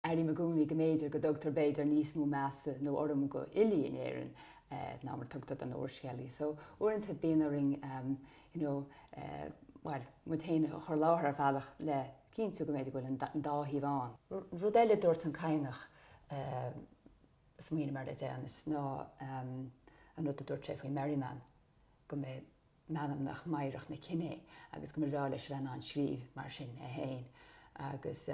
Airím i gcónaí go mb'fhéidir go dtugtar b'fhéidir níos mó measa nó urraim go fhilí in Éirinn ná mar a thugtar don úrscéalaí so uaireanta bíonn orainn you know bhuel muid féin a chur i láthair ar bhealach le cinntiú go mb'fhéidir go bhfuil an dá thaobh ann. Rud eile a dúirt an Cadhnach a smaoinigh mé air le deireanas ná an rud a dúirt sé faoi Merriman go mba é meanma mheidhreach an chine é agus go mb'fhearr leis a bheith in ann scríobh mar sin é féin agus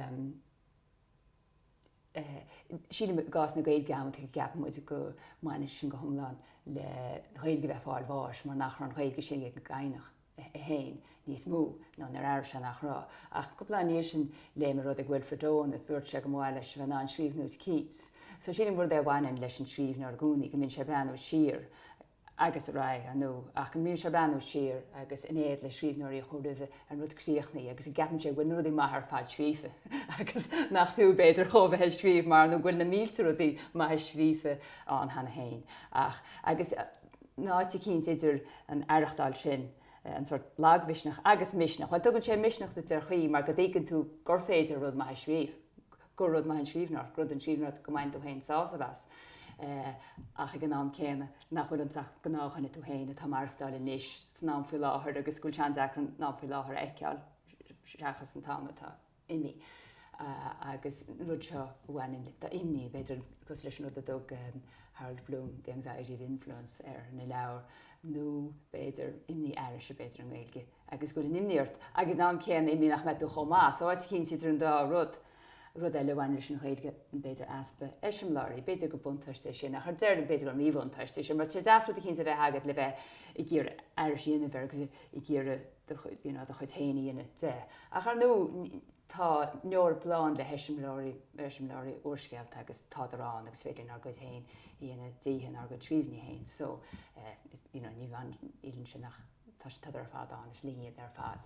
Sílim i gcás na Gaeilge amanntaí go gceapann muid go mbaineann sin go hiomlán leis an nGaeilge a bheith ag fáil bháis mar nach raibh an Ghaeilge sin ag an gCadhnach é féin níos mó nó nár airigh sé nach raibh. Ach cúpla lá i ndiaidh sin léigh mé rud ag Wilfred Owen a dúirt sé go mba mhaith leis a bheith in ann scríobh ar nós Keats. So sílim gur rud é a bhaineann leis an scríbhneoir i gcónaí go mbíonn sé ag breathnú siar agus ar aghaidh, ar ndú, ach go mbíonn sé ag breathnú siar agus in éad le scríbhneoirí a chuaigh roimhe ar an rud críochnaithe agus go gceapann sé go bhfuil na rudaí maithe ar fad scríofa agus nach fiú, b'fhéidir, dhó a bheith ag scríobh mar nó go bhfuil na mílte rudaí maithe scríofa ann cheana féin ach agus in áit eicínt idir an aireachtáil sin, an sort lagmhisneach agus misneach, bhuel tugann sé misneach duit ar chaoi mar go dtuigeann tú gur féidir rud maith a scríobh, gur rud maith é an scríbhneoireacht rud í an scríbhneoireacht go mbaineann tú féin sásamh as ach ag an am céanna nach bhfuil ann ach gnáthdhuine tú féin atá ag maireachtáil anois san am faoi láthair agus go bhfuil sé an-deacair an am faoi láthair a fheiceáil seachas an t-am atá imithe agus rud, so b'fhéidir tá imní b'fhéidir cosúil leis an rud a thug um, Harold Bloom the anxiety of influence ar a leabhar nó b'fhéidir imní aríst b'fhéidir i nGaeilge agus go bhfuil imní ort, agus ag an am céanna imní nach mbeidh tú chomh maith, so áit eicínt idir an dá rud. Rud eile a bhaineann leis an nGaeilge, b'fhéidir easpa eiseamláirí. B'fhéidir gur buntáiste é sin, ach ar deireadh b'fhéidir gur míbhuntáiste é sin, mar tá sé deas rud eicínt a bheith agat le bheith ag iarraidh aithris a dhéanamh air agus ag iarraidh do chuid, you know, do chuid féin a dhéanamh de. Ach ar ndú, tá an Eoraip lán le heiseamláirí, eiseamláirí úrscéalta agus tádar ann agus is féidir linn ár gcuid féin a dhéanamh díobh in ár gcuid scríbhinní féin. So, eh, you know, ní bhaineann, ní chiallaíonn sin nach. Tá siad ar fad ann, is linn iad ar fad.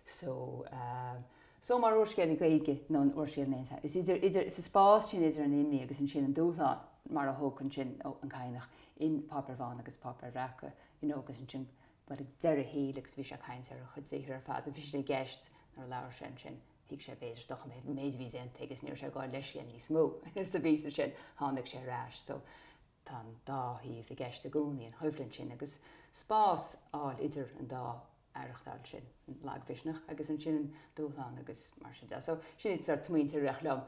So, so mar úrscéalaí Gaeilge nó an úrscéal in aon saghas, is idir, idir, is sa spás sin idir an imní agus ansin an dúshlán, mar a thug ansin an Cadhnach in Páipéir Bhána agus Páipéir Bhreaca, you know, agus ansin, bhuel, ag deireadh a shaoil agus bhí sé ag caint ar a chuid saothar ar fad, bhí sé i gceist nuair a labhair sé ansin, thuig sé b'fhéidir, dochar an méid a bhí déanta aige is ní raibh sé ag gabháil leithscéil níos mó is an bhíoga sin, tháinig sé ar ais. So, Tá an dá thaobh i gceist i gcónaí an choimhlint sin agus spás a fháil idir an dá aireachtáil sin, an lagmhisneach agus ansin an dúshlán agus mar sin de. So sin an sort smaointe a rith liom.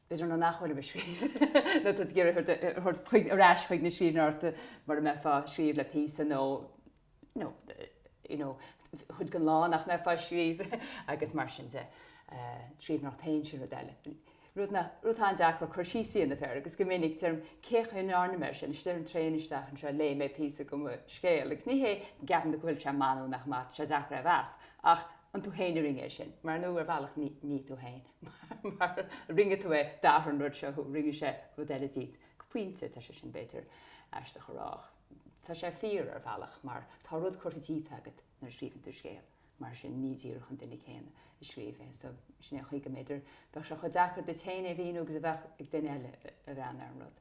B'fhéidir nuair nach bhfuil mé ag scríobh nó tá tú ag iarraidh a ghabháil ar ais i mbun na scríbhneoireachta mara mbeifeá ag scríobh le píosa nó no you know chuid gan lá nach mbeifeá ag scríobh agus mar sin de scríobh ach tá ann sin rud eile. Rud nach, rud atá an-deacair cur síos a dhéanamh air agus go minic deirim cé chaoi nár n-im air sin is déanaim triail isteach anseo léigh mé píosa de mo scéal agus ní hé go gceapann tú go bhfuil sé maith nó nach maith tá sé deacair é a mheas ach an tú féin a rinne é sin? mar nó ar bhealach ní, ní tú féin mar rinne tú é d'athraigh an rud seo thú rinne sé rud eile díot go pointe tá sé sin b'fhéidir aisteach a rádh. Tá sé fíor ar bhealach mar tá rud curtha díot agat nuair a scríobhann tú scéal, mar sin ní díreach an duine céanna i scríobh é so sin é an chaoi go mb'fhéidir bheadh sé chomh deacair duit féin é a mhíniú agus a bheadh sé ag duine eile a bheith in ann an rud